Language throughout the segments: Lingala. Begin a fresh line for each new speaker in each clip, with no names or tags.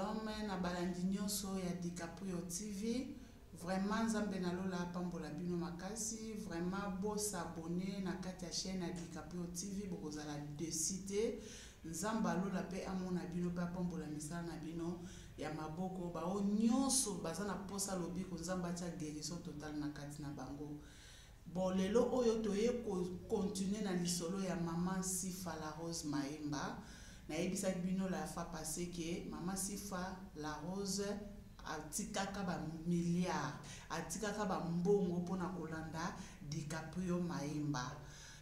Shalom na balandi nyonso ya DiCaprio TV. Vraiment Nzambe na lola apambola bino makasi. Vraiment bo s'abonner na kati ya chaîne ya DiCaprio TV bokozala desi te. Nzambe alola pe amona bino pe apambola misala na bino ya maboko. Bao nyonso baza na posa lobiko Nzambe atia guérison totale na kati na bango. Bon lelo oyo toye ko continuer na lisolo ya maman Sifa la Rose Maemba. Nayebisaki bino la fois passee que maman Sifa la Rose atikaka ba milliards, atikaka ba mbongo pona kolanda DiCaprio Maemba.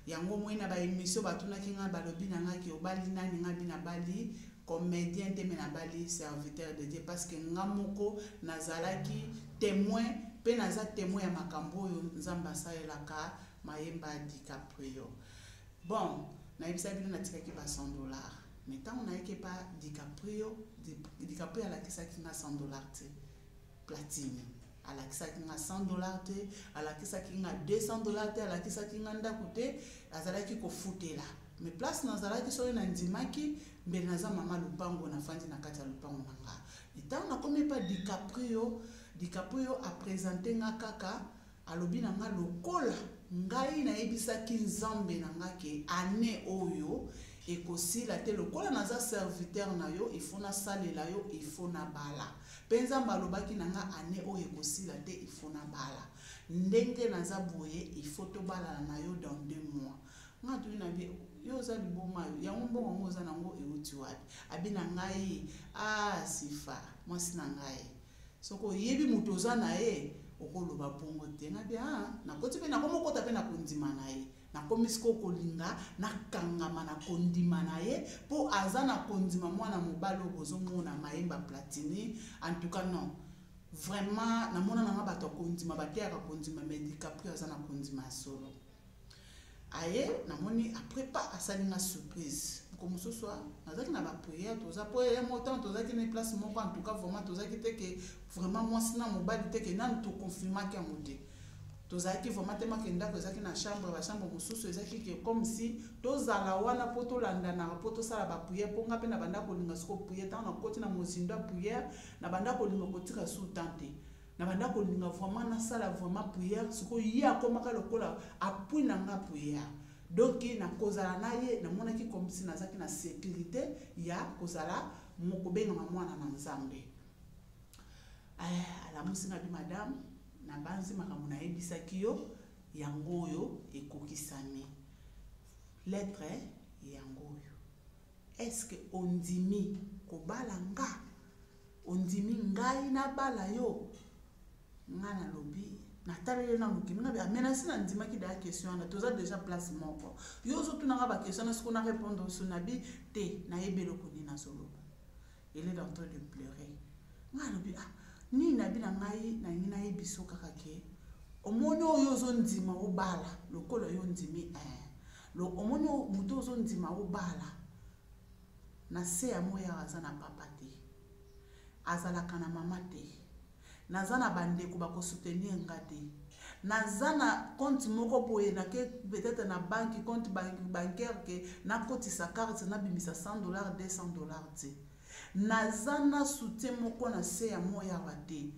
Yango omoni na ba emission batunaki ngai balobi na ngai que obali nani? Ngai bi nabali comedien te mais nabali serviteur de Dieu parce que nga moko nazalaki temoin pe naza temoin ya makambo oyo Nzambe asalelaka mayemba DiCaprio bon nayebisa bino natikaki ba 100 dollars mais ntango nayaki epa DiCaprio DiCaprio alakisaki nga 100 dollars te platini alakisaki nga 100 dollar te alakisaki nga 200 dollar te alakisaki nga ndako te azalaki kofutela me place nazalaki soki nandimaki mbele naza mama lopango nafandi na kati ya lopango na nga ntango nakomi epa dicaprio dicaprio apresente nga kaka Alobi na nga lokola ngai nayebisaki Nzambe na nga ke annee oyo ekosila te lokola naza serviteur na yo il faut nasalela yo il faut nabala mpe Nzambe alobaki na nga annee oyo ekosila te il faut nabala ndenge naza boye il faut tobalana na yo dans deux mois nga atuni na bie yo oza liboma yo yango mbongo yango oza nango euti wapi abi na ngai ah sifa mwasi na ngai Soki oyebi moto oza na ye, okoloba bongo te. Nga bia, ah, nakoti mpe nakomokota mpe na kondima na ye. Nakomi sikoyo kolinga nakangama na kondima na ye mpo aza na kondima mwana mobali oyo bozomona mayemba platini. En tout cas non. Vraiment, namona na nga bato ya kondima bateyaka kondima, mais DiCaprio aza na kondima ya solo. aye namoni après pas asali nga surprise moko mosusu nazalaki na bapriere toza mpo ya motan tozalaki na place moko en tout cas vraiment tozalaki te ke vraiment mwasi na mobali te ke nanu toconfirmaki yango te tozalaki vraiment te make ndako ezalaki na chambre bachambre mosusu ezalaki ke comme si tozala wana mpo tolandanaka mpo tosala bapriere mpo ngai mpe na bandako olinga soko priere ntango nakoti na mozindo ya priere na bandako olinga kotika sous temps te na banda kolinga vraiment nasala vraiment prière sikoyo ye akomaka lokola apui na nga prière donc na kozala na ye namonaki komisi nazalaki na sécurité ya kozala kobengama mwana na nzambe eh, alamusi nga bi madame nabanzi makambo nayebisaki yo yango oyo ekokisami lettre yango oyo est ce que ondimi kobala nga ondimi ngai nabala yo ngai nalobi nataleli yo na mokili ngabe amenasi na ndimaki daya question wana toza déjà place moko yo ozotunanga baquestion na siko na répondre oso na bi te nayebi eloko nini nazoloba ele est en train de pleurer ngai alobi ah nini nabi na ngai nalingi nayebi so kaka ke omoni oyo ozondima obala lokola yo ondimi eh. omoni moto ozondima obala Na se ya moi awa aza na papa te. Azalaka na mama te. Naza na ba ndeko ba ko soutenir nga te. Naza na compte moko boye na ke peut-être na banque compte bancaire ke na kotisa carte na bimisa 100 dollars 200 dollars te. Naza na soutien moko na se ya moi awa te.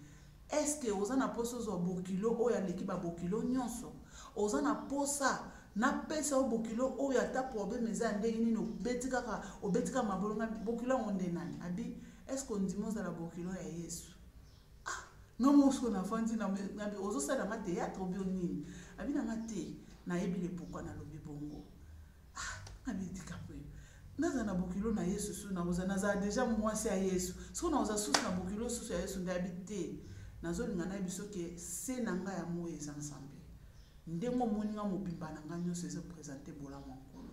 Eske oza na posa ozwa bokilo oyo aleki ba bokilo nionso? Oza na posa na pesa yo bokilo oyo ata probleme eza ya ndenge nini obeti kaka obeti kaka mabolo nga bokilo yango nde nani? Abi eske ondimi ozala bokilo ya Yesu? Ah, nga mosuko na fandi na ngabi ozo sala nga theatre obio nini? Abi na nga te, nayebi le pourquoi nalobi bongo. Ah, ami likambo oyo naza na bokilo na yesu susu naoza nazala deja mwasi ya yesu soko naoza susu na bokilo susu ya yesu ndayabi te nazolinga nayebi soki se na ngai ya moi eza nzambe ndenge omoni ngai mobimba na ngai nyonso eza présente bolamu ya nkolo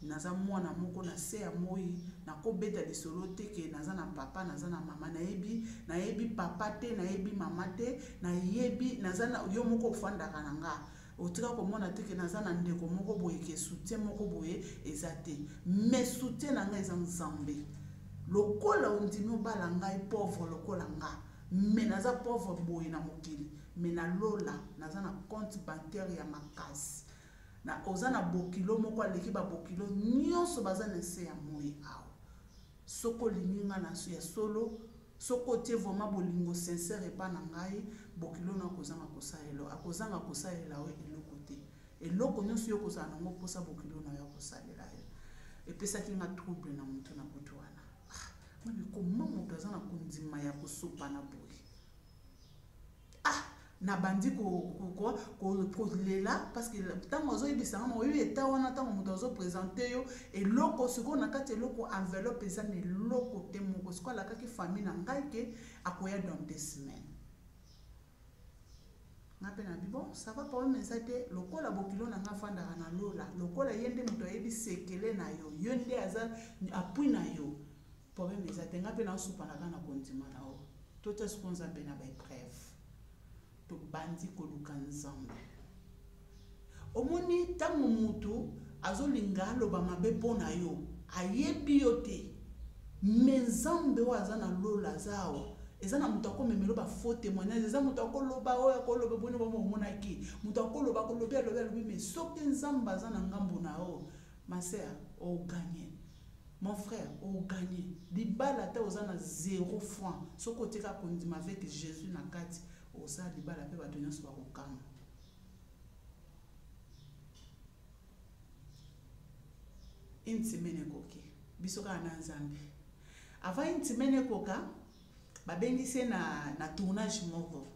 naza mwana moko na se ya moi nakobeta lisolo te ke naza na papa naza na mama nayebi nayebi papa te nayebi mama te nayebi naza na yo moko ofandaka na ngai Otika komona te ke naza na ndeko moko boye ke soutien moko boye eza te. Mais soutien na nga eza Nzambe. Lokola ondimi obala ngai pauvre lokola nga. Mais naza pauvre boye na mokili. Mais na lola naza na compte bancaire ya makasi. Na oza na bokilo moko aleki ba bokilo nionso baza na nse ya moyi awa. Soki olingi nga na ya solo Soki otie vraiment bolingo sincère epa na ngai, bokilo na yo akozanga kosalela yo, akozanga kosalela yo eloko te. Eloko nionso yo okozala na yango posa bokilo na yo akosalela yo. Epesaki nga trouble na mutu na butu wana. Ah, nga mais comment mutu aza na kondima ya kosopana boye? ah nabandi kolela parce que ntango azoyebisa nga maoyo eta wana ntango moto azopresente yo eloko sikoyo na kati eloko enveloppe eza na eloko te moko sikoyo alakaki famille na ngai ke akoya dans deux semaines nga mpe na bibo sava problème eza te lokola bokilo na nga afandaka na lola lokola ye nde moto ayebi sekele na yo yo nde aza apui na yo Problème eza te nga pe na soupa na kana kondima na o. Tota siko nzambe na ba épreuve. To bandi ko luka nzambe. Omoni tango mutu azolinga aloba mabe mpo na yo ayebi yo te me nzambe oyo aza na lola aza awa eza na moto akomemelo bafaux témoignage eza moto akoloba oyo akoloba boni boma omonaki moto akoloba kolobi alobi alobi me soki nzambe aza na ngambo na yo maser oganye Mon frère, o gagné. Libala ata oza na zero franc, soki otie kaka kondima avec Jesus na kati, oza libala mpe bato nyonso bakokamwa. Une semaine ekoki, biso kaka na Nzambe. Avant une semaine ekoka, babengisi ye na, na tournage moko.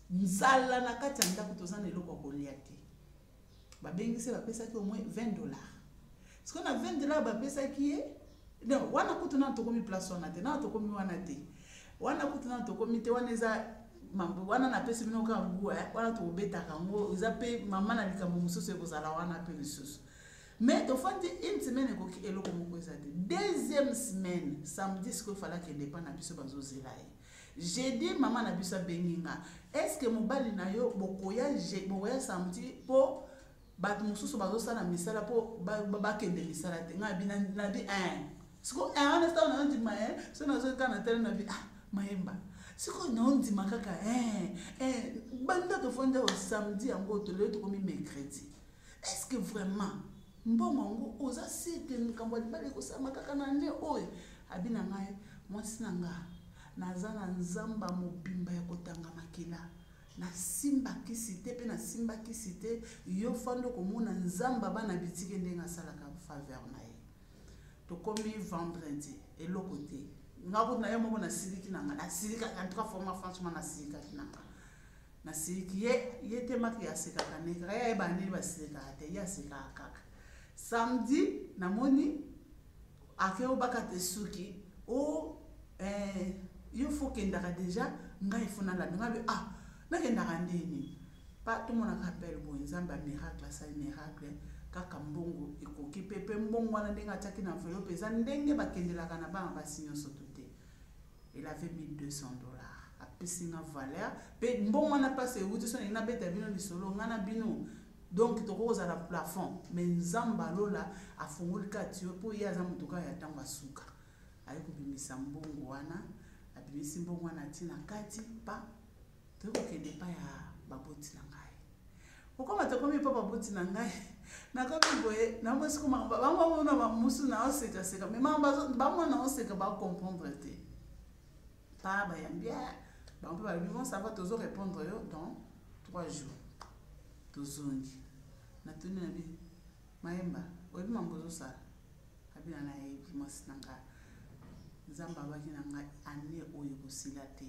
Nzala na kati ya ndako toza na eloko ya kolia te. babengisi bapesaki au moins 20 dollars sikoyo na 20 dollars bapesaki ye non wana kutu nana tokomi place wana te nana tokomi wana te wana kutu nana tokomi te wana eza mambo wana napesi bino kaka ngu eh, wana tokobetaka yango eza mpe mama na likambo mosusu ekozala wana mpe lisusu mais tofandi une semaine ekoki eloko moko eza te deuxième semaine samedi sikoyo falaki ende epa na biso bazozela ye Jeudi maman na biso abengi nga est-ce que mobali na yo bokoya bokoya samedi po bato mosusu bazosala misala mpo bakende misala te ngai abi nabi eh. siko eh, wana ntango naondima eh, so nazotala na tele nabi ah mayemba sikoyo naondima kaka banda tofanda o samedi yango tolelo tokomi mercredi est ce que vraiment mbongo yango oza sur ke likambo ya libala ekosalama kaka na ne oyo abi na ngai mwasi na nga naza na nzamba mobimba ya kotanga makila nasimba kisi te mpe nasimba kisi te yo fanda okomona nzamba bana bitike ndenge asalaka faveur na ye tokomi vendredi eloko te nga kutu na ye moko nasilikaki na nga nasilikaki en tout cas forma franchement nasilikaki na nga nasiliki ye ye te maki asekaka ne kaka ye ayebana nini basekaka te ye asekaka kaka samedi namoni ake obaka te suki o oh, eh, yo fo kendaka deja ngai fo nalanda ngai be ah nakendaka ndeni pa tomonaka appel boye nzambe ya miracle asali miracle kaka mbongo ekoki mpe mpe mbongo wana ndenge atiaki na envelope eza ndenge bakendelaka na bana basi nyonso to te il avait 1200 dollars apesi nga valeur mpe mbongo wana mpasi euti so ndenge nabeta bino lisolo ngai na bino donc tokoki kozala plafond mais nzambe alola afungoli kati yo mpo ye aza moto kaka ya ntango asuka aye kobimisa mbongo wana abimisi mbongo wana ti na kati pa toye kokende epai ya baboti na ngai kokoma tokomi epai baboti na ngai nakomi boye namosi koma bango bamona bamosu naosekaseka me bango naoseka bacomprendre te pa bayambi ah, bango mpe balobi bon sava tozo répondre yo dans trois jours tozongi natuni na bino mayemba oyebi mambo ozosala abina nayebi mwasi na ngai nzambe abaki na ngai ane oyo ekosila te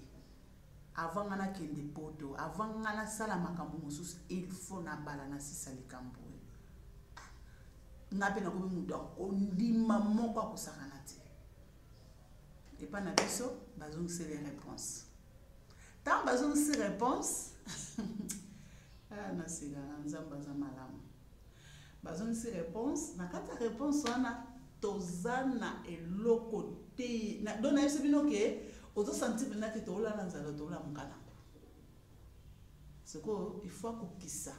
Avant nga na kende poto, avant nga na sala makambo mosusu, il faut na bala na sisa likambo oyo. Nga pe na komi mutu akondima moko akosakana te. Epa na biso, bazongisi les réponses. Tant bazongisi réponse, ah na sila na nzambe aza malamu. bazongisi réponse na kati ya réponse wana toza na eloko te do nayebisi bino ke ozosanti mpenza te toolala nzala toolamuka nango sikoyo ifo akokisa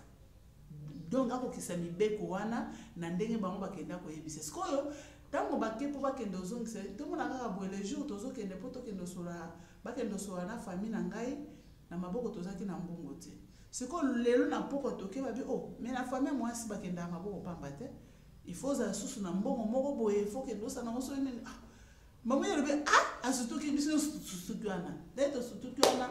donc akokisa mibeko wana na ndenge bango bakenda koyebisa sikoyo ntango bake mpo bakende ozongisa tomona kaka boye le jour tozokende mpo tokende osola bakende osola na famille na ngai Na maboko tozalaki na mbongo te. Sikoyo lelo na mpokwa toke babi oh mais na famille mwasi bakendaka maboko pamba te. Il faut ozala susu na mbongo moko boye, il faut kende osala nango soki nini. Ah, mama ye alobi ah asutuki biso sutuki wana. Nde tosutuki wana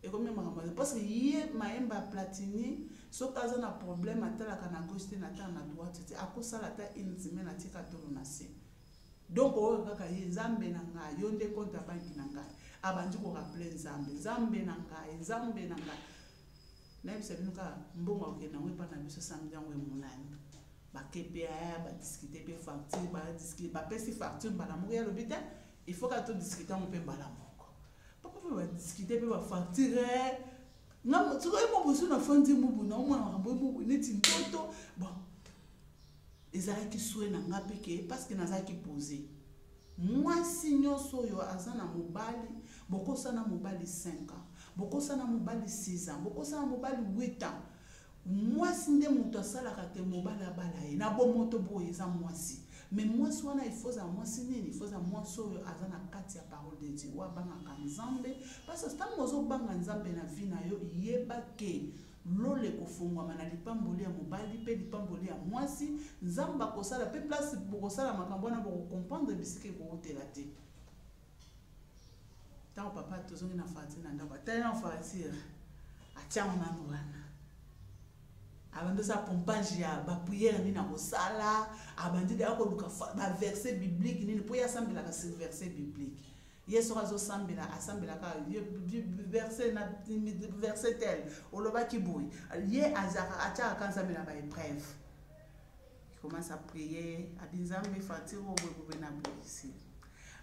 ekomi makambo te parce que ye mayemba platini soki aza na problème atalaka na gauche te na tala na droite te akosala ata une semaine atika tolo na se. Donc oyo kaka ye nzambe na ngai yo nde compte ya banki na ngai abandi ko rappeler nzambe nzambe na ngai nzambe na ngai nayebisa bino kaka mbongo akokende yango epai na biso samedi yango emonani bakpa badiscute mpe facture badiscute bapesi facture mbala moko ya lobi te il faut kaka todiscute yango mpe mbala moko papa mpe badiscute mpe bafacture soki oyemobosu na fandi mubu na omona makambo neti ndoto bon ezalaki sue na nga mpe ke parceke nazalaki pose mwasi nyonso oyo aza na mobali bokosana mobali 5 ans bokosana mobali 6 ans bokosana mobali 8 ans mwasi nde moto asalaka te mobali abala ye na bomoto boye eza mwasi me mwasi wana ifoza mwasi nini ifoza mwasi oyo aza na kati ya parole de dieu oyo abangaka nzambe parce ntango ozobanga nzambe na vi na yo yeba ke Lola ekofongwama na lipamboli ya mobali mpe lipamboli ya mwasi. Nzambe akosala mpe place bokosala makambo wana bokokomprendre bisika ekowutela te. Ntango papa tozongi na farati na ndako atali na farati atiango nano wana abandi osala pompage ya bapriere nini akosala abandi daya koluka baverse biblique nini mpo ye asambelaka sur verse biblique ye soki azosambela asambela kaka verse na verse tel olobaki boye ye azaka atiaka ka nzambe na baepreuve commence à prier abi nzambe fatire oyo boye bobe na boyisi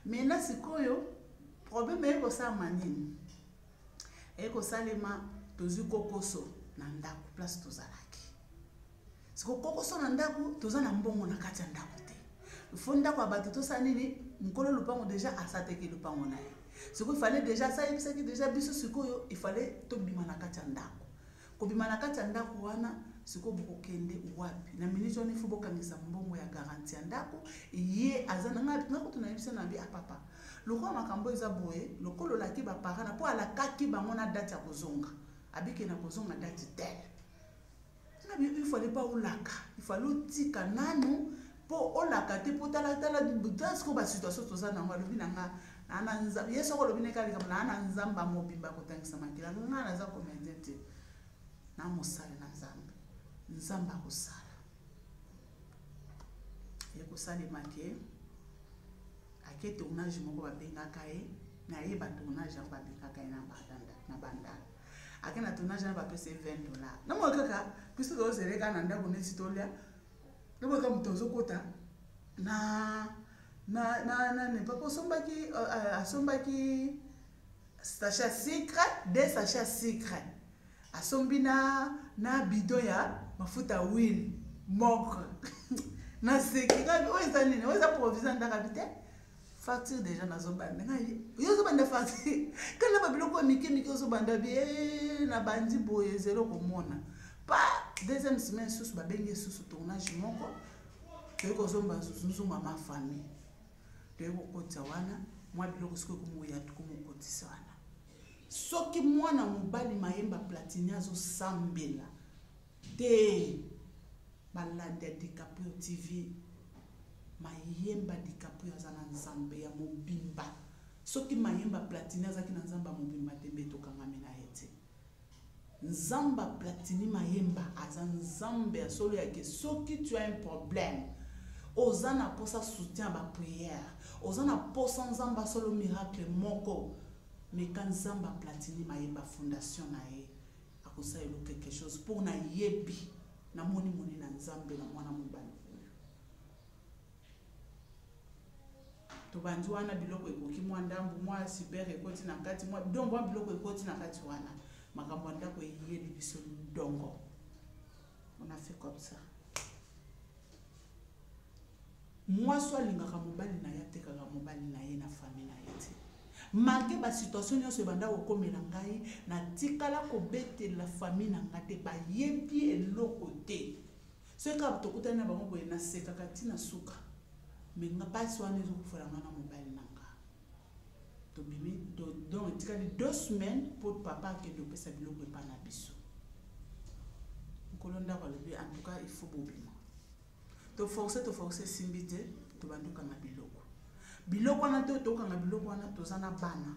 maintenant sikoyo problème eye kosalama nini eye kosalema tozwi kokoso na ndako place tozalaki siko kokoso na ndako toza na mbongo na kati ya ndako te fo ndako ya bato tosala nini mokolo lopango deja asateki lopango na ye sikoyo ifale deja asayebisaki deja biso sikoyo ifale tobima na kati ya ndako kobima na kati ya ndako wana sikoyo bokokende wapi na miniti wana ifo bokangisa mbongo ya garanti ya ndako ye aza nangakutu nayebisa na bi apapa ah, lokola makambo eza boye lokola olaki baparana mpo alakaki bango na dati ya kozonga abike na kozonga dati tele na bi il fallait pas olaka il fallait otika nanu mpo olaka te mpo talatala sikoyo basituation toza nango alobi na nga ye soko olobi na ekala likambo naa na nzambe mobimba akotangisa makila nga naza komende te na mosali na nzambe nzambe akosala ekosalema ke ake tournage moko babengaka ye naye batournage yango babengaka ye na bandala ake na tournage wana bapesa ye 20 dollar namoi kaka biso tozele kaka na ndako neti tolya namoi kaka moto azokota na na na na ne papa osombaki euh, euh, asombaki sachet sucre de sachet sucre asombi na na bidon ya mafuta huile moko naseki kaka oyo eza nini oyo eza provision ndakabi te facture deja nazobanda ngai yo ozobanda facture kala ba biloko ya mike mike ozobanda bie nabandi boye zelo komona pa deuxième semaine susu babengi esusu tournage moko toyei kozomba nzunzunga ma famille toyei kokotisa wana mwa biloko soki ekomoya tokomokotisa wana soki mwana mobali mayemba platini azosambela Te balandi ya DiCaprio TV mayemba DiCaprio aza na nzambe ya mobimba soki mayemba Platini azaki na nzambe ya mobimba te mbe tokangami na ye te nzamba Platini mayemba aza nzambe ya solo yake soki tu as un problème oza na posa soutien ba prière oza na posa nzamba solo miracle moko meka nzamba Platini mayemba fondation na ye akosala elo quelque chose mpo nayebi namoni moni na nzambe na mwana mobali oyo tobandi wana biloko ekoki mwa ndambo mwa super ekoti na kati mwa do mwa biloko ekoti na kati wana makambo ya ndako eyebi biso ndongo on a fait comme ça Mwasi oyo alingaka mobali na ye atekaka mobali na ye na famille na ye te. Malgre ba situation nionso ebanda kokomela ngai, natikala kobetelela famille na ngai te, bayebi eloko te. Soki kaka tokutani na bango boye, nasekaka ti na suka. Mais nga pasi wana ezokufela nga na mobali na nga. Tobimi, to, donc etikali deux semaines po papa akende kopesa biloko epa na biso. Nkolo ndako alobi en tout cas il faut bobima. To force to force esimbi te tobandi kokanga biloko biloko wana to tokanga biloko wana toza na bana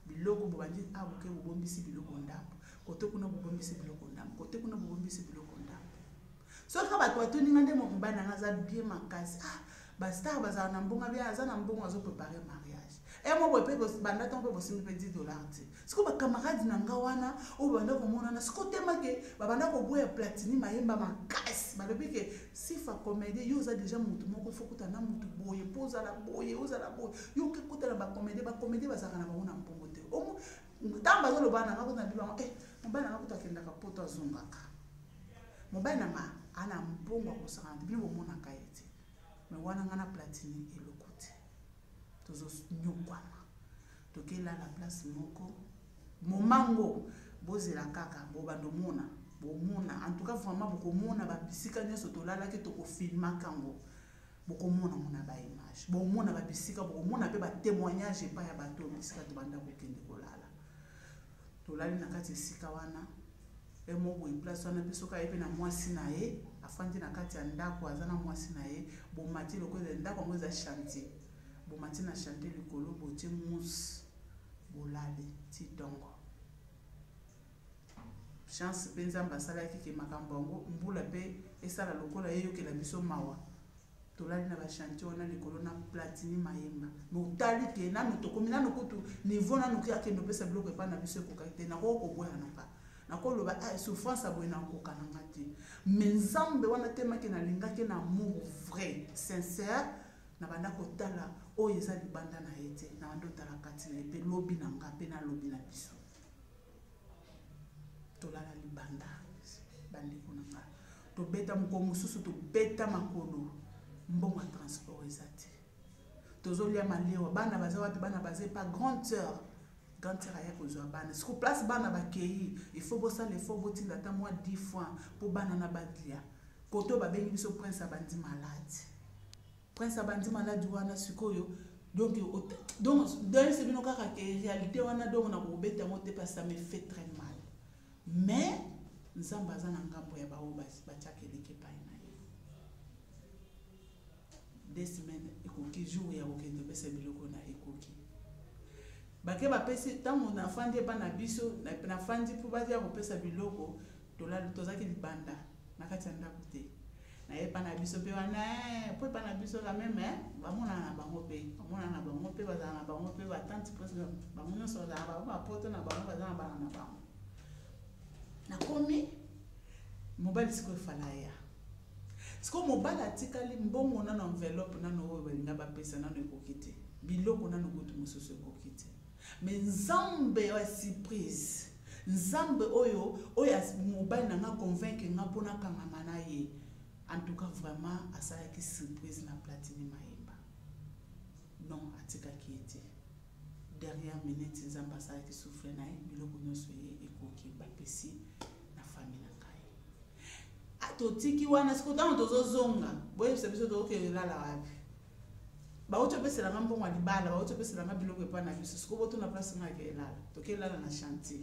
biloko bobandi a ah, boke bobombisi biloko ndambo kote kuna bobombisi biloko ndambo kote kuna bobombisi biloko ndambo soki bato batoninga nde mobali nanga aza bie makasi ah ba star bazala na mbongo abia aza na mbongo azo prepare mariage e mo boye mpe banda ntango mpe bosimbi mpe 10 dollar te sikoyo bacamarade na nga wana oyo banda komonana sikoyo tema ke babanda koboya platini mayemba makasi balobi ke sifa comédie yo oza deja motu moko ifo kuta na motu boye mpo ozala boye ozala boye yo oke kuta na bacomédie bacomédie bazalaka na bango na mbongo te ntango bazoloba na nga kuta na bibi yango e eh, mobali na nga kuta akendaka poto azongaka mobali na nga ana mbongo akosaka na bino bomonaka ye te mais wana nga na platini eloko te tozonyokwama tokelala place moko momango bozela kaka bobanda omona bomona en tout cas vraiment bokomona babisika nyonso tolalaki tokofilmaka yango bokomona mona baimage bomona babisika bokomona mpe batémoignage epai ya bato bisika tobanda kokende kolala tolali na kati esika wana e moko boye place wana mpe soki aye mpe na mwasi na ye afandi na kati ya ndako aza na mwasi na ye bomati lokola ezali ndako yango eza chantier bomati na chantier likolo botie mousse bolali ti ntongo chance mpe nzambe asalaki ke makambo yango mbula mpe esala lokola eyokela biso mawa tolali na ba chantier wana likolo na platini mayemba botali te nanu tokomi nanu kutu niveau nanu ki akende opesa biloko epa na biso ekokaki te nakoki koboya na nga nakoloba ah, souffrance aboye nakoka na nga te me nzambe wana temaki nalingaki na amour vrai sincère nabanda kotala oyo eza libanda na ye te nabanda otala kati na ye mpe lobi na nga mpe nalobi na biso tolala libanda bandeko na nga tobeta mokolo mosusu tobeta makolo mbongo ya transport eza te tozolya malewa bana baza wapi bana baza epa grande sœur grande sœur aya kozwa bana siko place bana bakei ifo bosala ifo botinda ata mwa 10 fois mpo bana na badlia koto babengi biso prince abandi malade Prince abandi malade wana sikoyo donc donc d'ailleurs c'est bino kaka ke réalité wana donc na kobeta yango te parce que ça me fait très mal mais nzambe aza na ngambo ya baoyo batiaka eleki epai na ye des semaines ekoki jour ya kokende opesa biloko na ekoki bake bapesi ntango nafandi epai na biso nafandi mpo baza kopesa biloko tozalaki libanda na kati ya ndako te na epa na biso mpe wana eh, mpo epa na biso la meme eh, bamonana na bango mpe bamonana na bango mpe bazala na bango mpe batante mpo bango nyonso bazala na bango bapoto na bango baza na bana na bango nakomi mobali sikoyo efala ya sikoyo mobali atikali mbongo nano enveloppe nano oyo balinga bapesa nano ekoki te biloko nano kutu mosusu ekoki te Mais nzambe ya surprise. Nzambe oyo oyo mobali na nga convaincre nga mpo nakangama na ye. En tout cas vraiment asalaki surprise na Platini Mayemba. Non atikaki ye te. Derrière minute nzambe asalaki souffle na ye biloko nyonso ye ekoki bapesi na famille na ngai. Ah, totiki wana sikoyo ntango tozozonga boyebisa biso tokokende lala wapi bauti opesela nga mbongo ya libala bauti opesela nga biloko epai na biso sikoyo botuna place nga ake elala tokelala na chantier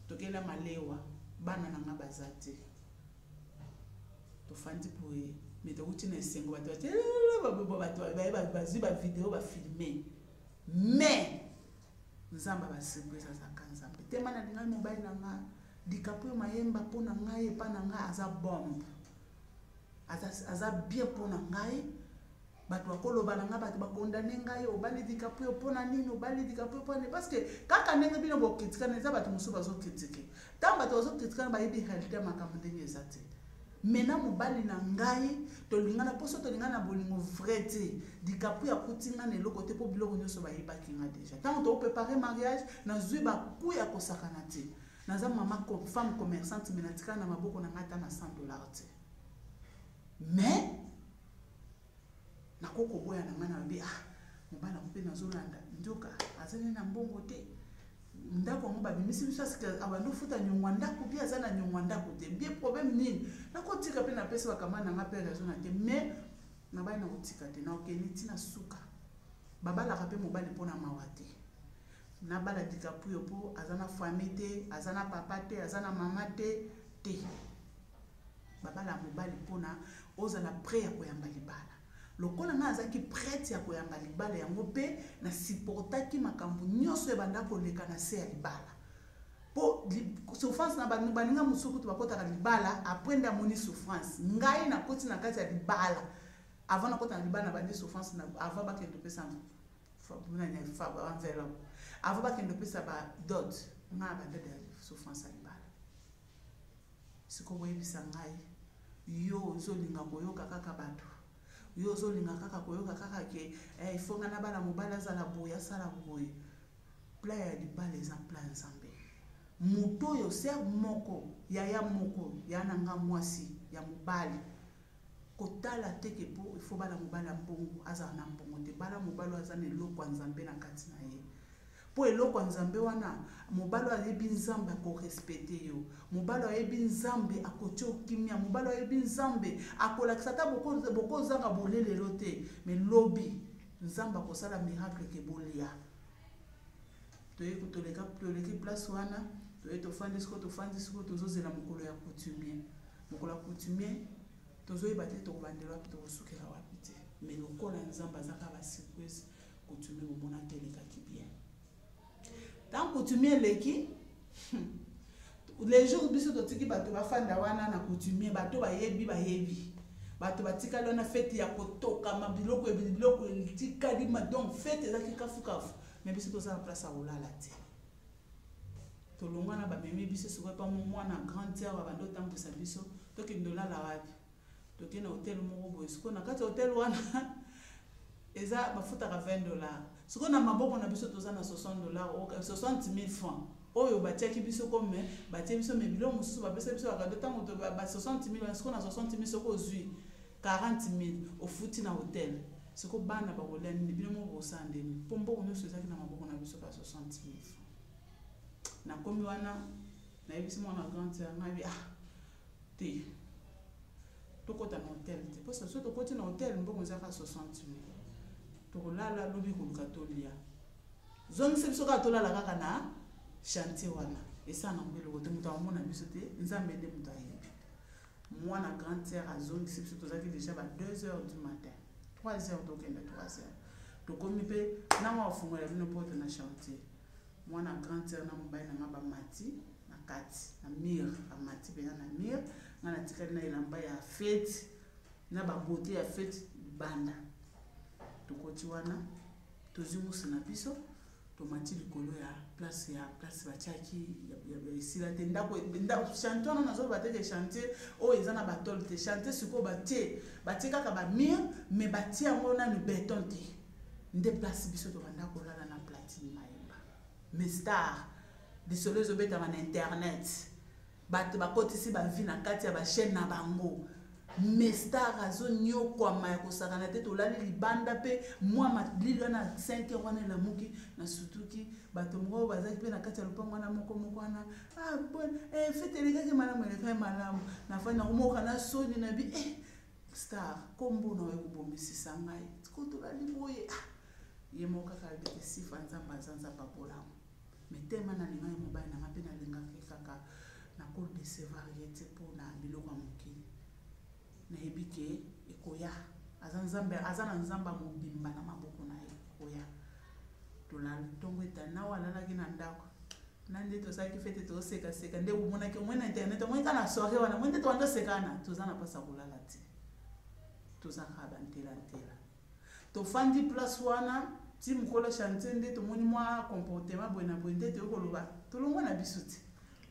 tokela malewa bana na nga baza te tofandi boye me tokoti na esengo bato bato bazwi bavideo bafilme mais nzambe abasurprise azaka nzambe tema na lingai mobali na nga dikapo yo mayemba mpo na ngai epai na ngai aza bombe aza bien mpo na ngai bato bakoloba na ngai bato bakondane ngai obali dikapuyo mpo na nini obali dikapuyo mpo na nini parce que kaka ndenge bino bokritikana eza bato mosusu bazokritike ntango bato bazokritikana bayebi réalité ya makambo ndenge eza te mai na mobali na ngai tolingana mposo tolingana na bolingo vrai te dikapu ya kuti ngai na eloko te mpo biloko nyonso bayebaki ngai deja ntango tokoprepare mariage nazwi baku ya kosakana te naza mama femme commerçante me natika na maboko na ngai ata na 100 dollar te mais nakoki koboya na ngai nalobi ah mobali yango mpe nazolanda nzoka azali na mbongo te ndako yango babimisi biso asike abandi ofuta nyongwa ndako mpe aza na nyongwa ndako te bie problème nini nakotika mpe napesi bakamba na ngai mpe raison na te mais nabali nakotika te naokende ntina suka babalaka mpe mobali mpo na mawa te na bala dikapuyo po aza na famille te aza na papa te aza na mama te te babala mobali mpona ozala prêt ya koyamba libala lokola nga azalaki prête ya koyamba libala yango mpe na supportaki makambo nyonso ebanda koleka na se ya libala mpo souffrance na baninga mosusu kutu bakotaka libala apres nde amoni souffrance ngai nakoti na kati ya libala avant nakota na libala na bandi souffrance avant bakende kopesa Fabu na ne fabu ba enveloppe. Avant ba kende pesa ba dot. Nga ba dot ya souffrance ya libala. Siko boyebisa ngai yo ozolinga koyoka kaka bato yo ozolinga kaka koyoka kaka ke eh, ifo nga nabala mobali azala boye asala boye plan ya libala eza plan nzambe moto oyo ser moko yaya moko ya na nga mwasi ya mobali Kotala te ke po il faut bala mobali ya mbongo azala na mbongo te bala mobali oyo aza na eloko ya nzambe na kati na ye po eloko ya nzambe wana mobali oyo ayebi nzambe akorespete yo mobali oyo ayebi nzambe akotia okimia mobali oyo ayebi nzambe akolakisa ata bokozanga bole lelo te me lobi nzambe akosala miracle ke bolia toye kotoleka toleki place wana toye tofandi sikoyo tofandi sikoyo tozozela mokolo ya coutumier mokolo ya coutumier tozoyeba te tokobandela wapi tokosukela wapi te me lokola nzambe azaka basurprise coutumier bomona telekaki bien ntango coutumier eleki le jour biso totiki bato bafanda wana na coutumier bato bayebi bayebi bato batikali wana fete ya kotokama biloko biloko etikali donc fete ezaki kafukafu me biso toza na place ya kolala te tolongwa na bamemi biso sikoyo epa mwana grande sœur babanda otambwisa biso tokende olala wapi toke na hotel moko boye sikoyo na kati ya hotel wana eza bafutaka 20 dollar sikoyo na maboko na biso toza na 60 dollar 60 000 francs oyo batiaki biso kome batie biso me biloko mosusu bapesa biso bakado ntango ba 60 000 wana sikoyo na 60 000 soki ozwi 40000 ofuti na hotel siko bana bakolia nini bino moko bosala ndeni mpo mbongo nyonso ezalaki na maboko na biso ba 60000 francs nakomi wana nayebisi mwana grande sœur ngai ah te tokɔta na hotel te mpo soso tokoti na hotel mbongo ezalaka 60000 tokolala lobi koluka tolia zongisa biso kaka tolala kaka na chantier wana esala nango eloko te moto akomona biso te nzambe nde moto ayebi mwana grande sœur azongisi biso tozalaki déjà ba 2 heures du matin 3 heures tokenda 3 heures tokomi mpe nanga ofungwela bino porte na chantier mwana grande sœur na mobali na nga bamati na kati na mire bamati mpenza na mire nga natikali na elamba ya fete na babote ya fete libanda tokoti wana tozwi musu na biso tomati likolo ya place ya place batiaki esila te ndako chantier wana nazoloba te ke chantier oyo eza na batole te chantier sikoyo batie batie kaka bamire mais batie yango nanu beton te nde place biso tobanda kolala na platine mayemba mais star lisolo ezobetama na internet bato bakotisi bavi na kati ya bachaine na bango mestar azonyokwama ya kosakana te tolali libanda mpe mwa malili wana 5 heure wana elamuki na sutuki bato moko bazalaki mpe na kati ya lopango wana moko moko wana ah, eh, fete elekaki malamu elekaki malamu nafai nakomoka na soni na bi eh, star kombo na oyo kobomisisa ngai ko tolali boye ah, ye moko kaka alobete sifa nzambe aza nzambe abolamu mais tellement nalingaki mobali nanga mpe nalingaka ye kaka nako decevoir ye te mpo na biloko ya mokili nayebi ke ekoya aza nzambe aza na nzamba mobimba na maboko na ye ekoya tolala ntongo etani nawa alalaki na ndako na nde tosalaki fete tosekaseka nde omonaki omoi na internet omoi kaka na soire wana moi nde towanda osekana toza na mpasa kolala te tozaka bantela ntela tofandi place wana ti mokolo chantier nde tomoni mwa comportement boye na boye nde toyei koloba tolongwa na biso te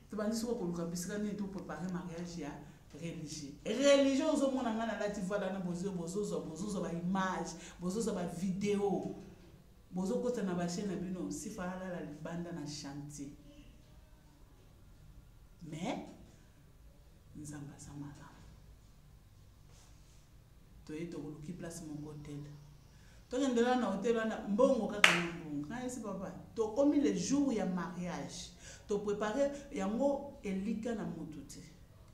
tobandi soko koluka bisika nini toprepare mariage ya religieux religieux ozomona ngai nalati voile wana bozozwa bozozwa bozo baimage bozozwa bavideo bozokota na bashe na bino sifa alala libanda na chantier mais nzambe aza malamu toye tokoluki place moko hotel tokende wana na hotel wana mbongo kaka na mbongo nayesi papa tokomi le jour ya mariage toprépare yango elika na motu te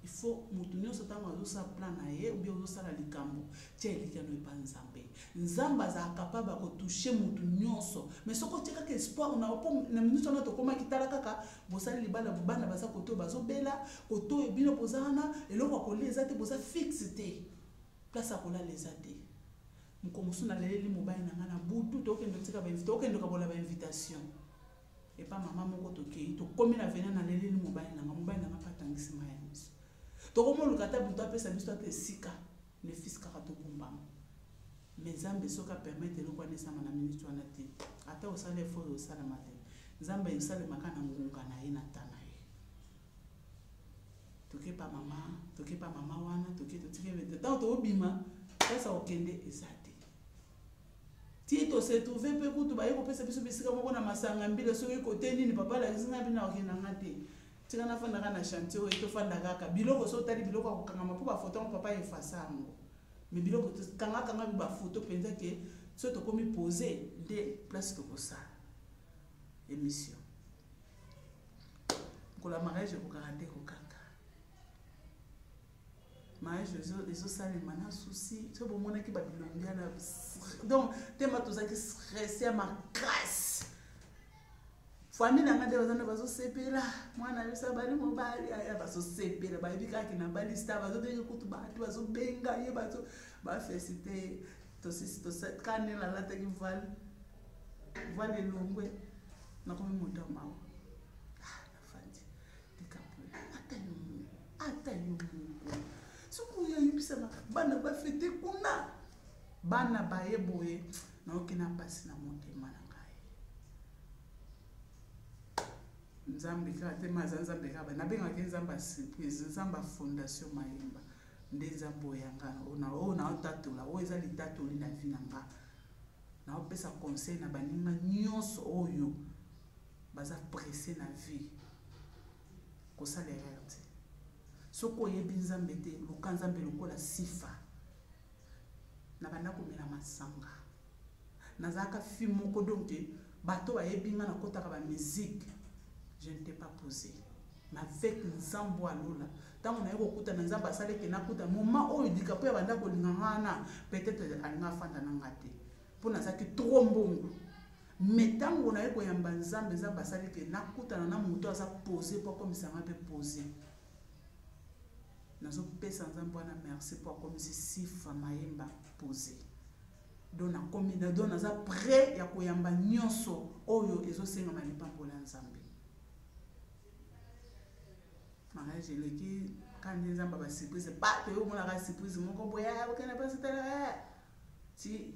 il faut motu nyonso ntango azosala plan na ye obie ozosala likambo tia elika no epa nzambe nzambe azala kapable ya kotouche motu nyonso mais soki otie kaka espoir na yo mpo na minute wana tokomaki tala kaka bosali libala bana baza koto bazobela koto bino boza wana eloko ya kolia eza te boza fixe te place ya kolala eza te mokolo mosusu naleleli mobali na ngai na butu tokende otika tokende okabola bainvitation epa mama moko tokei tokomi na vena naleleli mobali na ngai mobali na ngai mpe atangisi maya miso tokomoluka ata butu apesa biso ata esika Mes fils kaka tokumbama. Mais Nzambe soki a permettre eloko wana esama na minute wana te, ata osala effort oyo osalama te, Nzambe esalema kaka na ngonga na ye na temps na ye. Toke pa mama, toke pa mama wana, toke totike bete. Tango tobima, place ya kokende eza te. Ti to se trouver pe kutu baye kopesa biso bisika moko na masanga mbila soki kote nini papa alakisi ngai bino akenda nga te. tika nafandaka na chantier oyo tofanda kaka biloko so otali biloko ya kokangama mpo bafoto yango papa efasa yango me biloko kangakangami bafoto mpenza ke so tokomi pose nde place tokosala émission mokolo ya mariage ekokaka nde kokaka mariage ezosalema na souci so bomonaki babilongi wana donc tema tozalaki stresse ya makasi famille na ngai nde baza nde bazosepela mwana yo sabali mobali aya bazosepela bayebi kaka na bali star bazobenge kutu bato bazobenga ye bazo bafesite tosisi kanela alataki vale vale elongwe nakomi moto ya mawa ah, nafandi likapole ata yo moko ata yo moko soki oyo ayebisama bana bafete kuna bana baye boye nayoki na mpasi na motema na ngai nzambe kaka te ma aza nzambe kaka nabengaki nzambe ya surprise nzambe ya fondation mayemba nde nzambe oyo yanga ona oyo naotatola oyo eza litatoli na vi na nga naopesa conseil na baninga nyonso oyo baza presse na vie kosala erreur te soki oyebi nzambe te luka nzambe lokola sifa nabanda komela masanga nazalaka fi moko donc bato bayebi nga nakotaka bamusike je ne t'ai pas posé mais avec nzambe ya lola ntango naye kokutana nzambe asali ete nakuta moma oyo likapo ya banda kolinga nga wana peut-être alinga afanda na nga te mpo nazalaki trop mbongo me ntango naye koyamba nzambe nzambe asali ete nakutana na moto aza pose mpo akomisa nga mpe pose Nazo pesa nzambe wana merci po akomisi sifa mayemba pose don nakomi na don naza près ya koyamba nyonso oyo ezosengama lipambola ya nzambe mariage eleki kandi nzambe ba surprise bato yo omonaka surprise moko boye okende mpasi tala ti